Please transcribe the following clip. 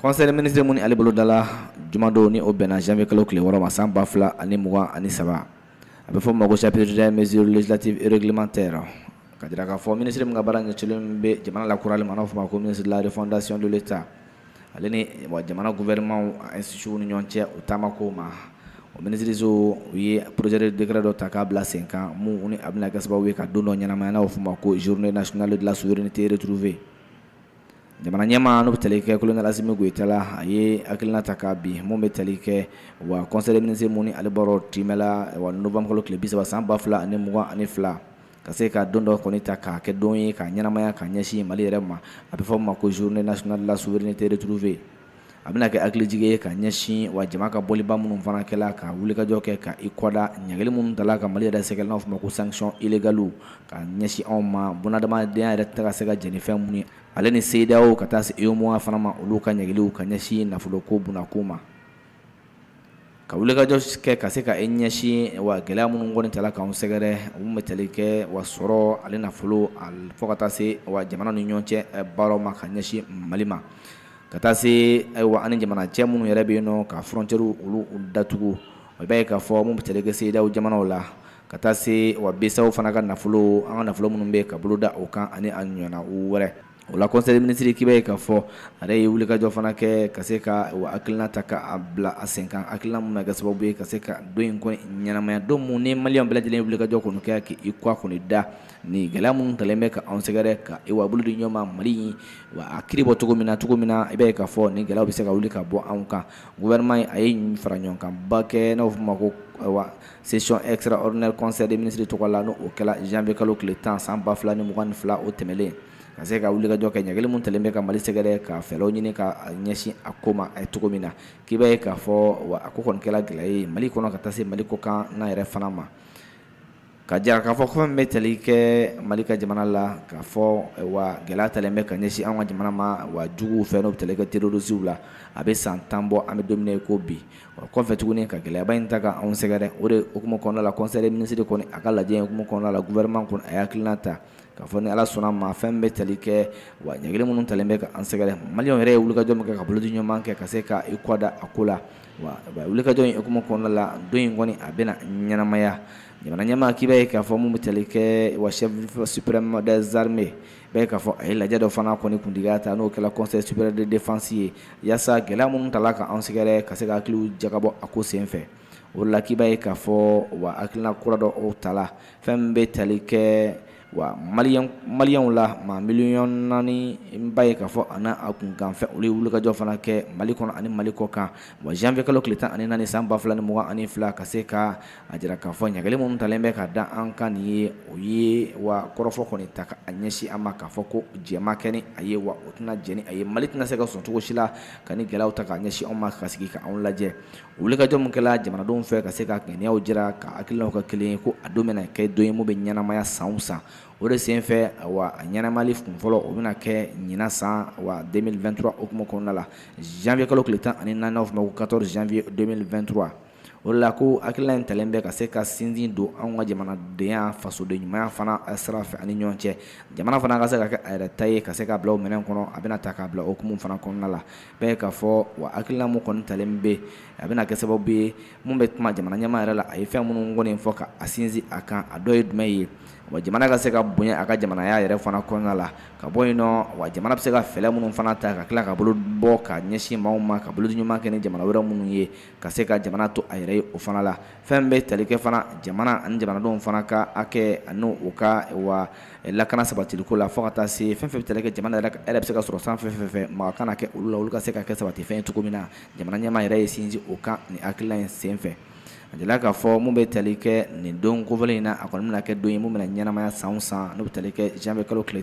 Kɔnsɛre minisiriri minnu ale boloda la jumadon ni o bɛnna janfɛ kalo tile wɔɔrɔma san 2 fila ani mugan ani saba a bɛ fɔ mago sɛfiere misirilati eregilima tɛ ka jira k'a fɔ minisiri min ka baara kɛ kelen bɛ jamana la kurauran mana fɔ ma ko minisiriri fdasiy ta ale ni jamana guɛmaw ni ɲɔgɔn cɛ u taama ko ma o minisiririso u ye poroze dɛrɛ dɔ ta k'a bila sen kan minnu a bɛna kɛ sababu ye ka don dɔ ɲɛnamayw fɔ ma ko zuruurununa sunjataale dilan syrin tee tuuruure jamana ɲɛmaa n'o bɛ tali kɛ colonel Assimi Goïta la a ye hakilina ta ka bi mun bɛ tali kɛ wa conseil des ministres mun ni ale bɔra tɛmɛla wa novembre kalo tile bisaba san ba fila ani mugan ani fila ka se ka don dɔ kɔni ta k'a kɛ don ye k'a ɲɛnamaya k'a ɲɛsin mali yɛrɛ ma a bɛ fɔ ma ko journée nationale de la souveraineté retrouvée a bɛna kɛ hakilijigin ye ka ɲɛsin wa jama ka bɔliba minnu fana kɛla ka wulikajɔ kɛ ka i kɔda ɲangili minnu tala ka mali yɛrɛ sɛgɛrɛ n'a fɔ ma ko sanctions illégales ka ɲɛsin anw ma bunadamadenya yɛrɛ tɛ ka se ka jɛn ni fɛn minnu ye ale ni CEDEAO ka taa se UEMOA fana ma olu ka ɲangiliw ka ɲɛsin nafolo ko bunako ma ka wulikajɔ kɛ ka se ka i ɲɛsin wa gɛlɛya minnu kɔni tala k'an sɛgɛrɛ mun bɛ tali kɛ wa sɔrɔ ale nafolo fo ka taa se wa jamana ni ɲɔgɔn cɛ baara ma ka ɲɛsin mali ma ka taa se ayiwa ani jamana cɛ minnu yɛrɛ bɛ yen nɔ ka frontières olu datugu o b'a ye k'a fɔ mun bɛ tali kɛ CEDEAO jamanaw la ka taa se wa BCEAO fana ka nafolo an ka nafolo minnu bɛ ka bolo da o kan ani a ɲɔgɔnna wɛrɛ O la conseil des ministres k'i b'a ye k'a fɔ a yɛrɛ ye wulikajɔ fana kɛ ka se ka wa hakilina ta k'a bila a sen kan hakilina mun bɛ kɛ sababu ye ka se ka don in kɔni ɲɛnamaya don mun ni maliyɛnw bɛɛ lajɛlen ye wulikajɔ kɔni kɛ k'i kɔ kɔni da ni gɛlɛya minnu talen bɛ k'an sɛgɛrɛ ka wa bolo di ɲɔgɔn ma mali in wa a kiri bɔ cogo min na cogo min na i b'a ye k'a fɔ ni gɛlɛya bɛ se ka wuli ka bɔ anw kan gouvernement in a ye fara ɲɔgɔnkanba kɛ n'a fɔ ma ko Session extraordinaire conseil des ministres tɔgɔ la n' o kɛra janvier kalo tile tan san ba fila ni mugan ni fila o tɛmɛnlen ka se ka wulikajɔ kɛ ɲangili min talen bɛ ka mali sɛgɛrɛ ka fɛɛrɛw ɲini ka ɲɛsin a ko ma a ye cogo min na k'i b'a ye k'a fɔ wa a ko kɔni kɛla gɛlɛya ye mali kɔnɔ ka taa se mali kɔkanna yɛrɛ fana ma ka jira k'a fɔ fɛn min bɛ tali kɛ mali ka jamana la k'a fɔ wa gɛlɛya talen bɛ ka ɲɛsin an ka jamana ma wa juguw fɛ n'o bɛ tali kɛ terroristes la a bɛ san tan bɔ an bɛ don min na ko bi o kɔfɛ tuguni ka gɛlɛyaba in ta k'an sɛgɛrɛ o de hukumu kɔnɔna la conseil des ministres kɔni a ka lajɛ hukumu kɔnɔna la gouvernement kɔni a ye hakilina ta k'a fɔ ni Ala sɔnna ma fɛn bɛ tali kɛ wa ɲangili minnu talen bɛ k'an sɛgɛrɛ maliyɛnw yɛrɛ ye wulikajɔ min kɛ ka bolodi ɲɔgɔnma kɛ ka se ka i kɔ da a ko la wa wulikajɔ in hukumu kɔnɔna la don in kɔni a bɛna ɲɛnamaya jamana ɲɛmaa k'i b'a ye k'a fɔ mun bɛ tali kɛ wa chef suprême des armées B'a ye k'a fɔ a ye lajɛ dɔ fana kɔni kuntigiya ta n'o kɛla Conseil supérieur de défense ye yaasa gɛlɛya minnu tala ka an sɛgɛrɛ ka se ka hakiliw jagabɔ a ko senfɛ o la k'i b'a ye k'a fɔ wa hakilina kura dɔ o tala fɛn min bɛ tali kɛ wa maliyɛnw la maa miliyɔn naani n b'a ye k'a fɔ a n'a kunkanfɛn olu ye wulikajɔ fana kɛ Mali kɔnɔ ani Mali kɔkan wa janvier kalo tile tan ani naani san ba fila ni mugan ani fila ka se ka a jira k'a fɔ ɲangili minnu talen bɛ ka da an kan nin ye o ye wa kɔrɔfɔ kɔni ta k'a ɲɛsin an ma k'a fɔ ko jɛma kɛ ni a ye wa o tɛna jɛ ni a ye Mali tɛna se ka sɔn cogo si la ka nin gɛlɛya ta k'a ɲɛsin anw ma ka sigi k'anw lajɛ o wulikajɔ min kɛla jamanadenw fɛ ka se ka gɛlɛyaw jira ka hakilinaw ka kelen ye ko a don bɛna kɛ don ye mun bɛ ɲɛnamaya san o san o de senfɛ a ɲɛnamali kun fɔlɔ o bɛna kɛ ɲinan san wa deux mille vingt-trois hukumu kɔnɔna la janvier kalo tile tan ani naani n'a fɔ ma ko quatorze janvier deux mille vingt-trois o la ko hakilina in talen bɛ ka se ka sinsin don an ka jamanadenya fasoden ɲumanya fana sira fɛ ani ɲɔgɔn cɛ jamana fana ka se ka kɛ a yɛrɛ ta ye ka se ka bila o minɛn kɔnɔ a bɛna ta k'a bila hukumu fana kɔnɔna la b'a ye k'a fɔ wa hakilina mun kɔni talen bɛ a bɛna kɛ sababu ye mun bɛ kuma jamana ɲɛmaa yɛrɛ la a ye fɛn minnu kɔni fɔ ka a sinsin a kan a dɔ ye jumɛn ye wa jamana ka se ka bonya a ka jamanaya yɛrɛ fana kɔnɔna la ka bɔ yen nɔ wa jamana bɛ se ka fɛɛrɛ minnu fana ta ka tila ka bolo bɔ ka ɲɛsin maaw ma ka bolodi ɲuman kɛ ni jamana wɛrɛ minnu ye ka se ka jamana to a yɛrɛ ye o fana la fɛn bɛ tali kɛ fana jamana ani jamanadenw fana ka hakɛ ani u ka wa lakana sabatiliko la fo ka taa se fɛn fɛn bɛ tali kɛ jamana yɛrɛ bɛ se ka sɔrɔ san fɛn fɛn fɛ maa kana kɛ olu la olu ka se ka kɛ sabatifɛn ye cogo min na jamana ɲɛmaa yɛrɛ ye sinsin o kan ni hakilina in senfɛ a jirala k'a fɔ mun bɛ tali kɛ nin don kofɔlen in na a kɔni bɛna kɛ don ye mun bɛna ɲɛnamaya san o san n'o bɛ tali kɛ janvier kalo tile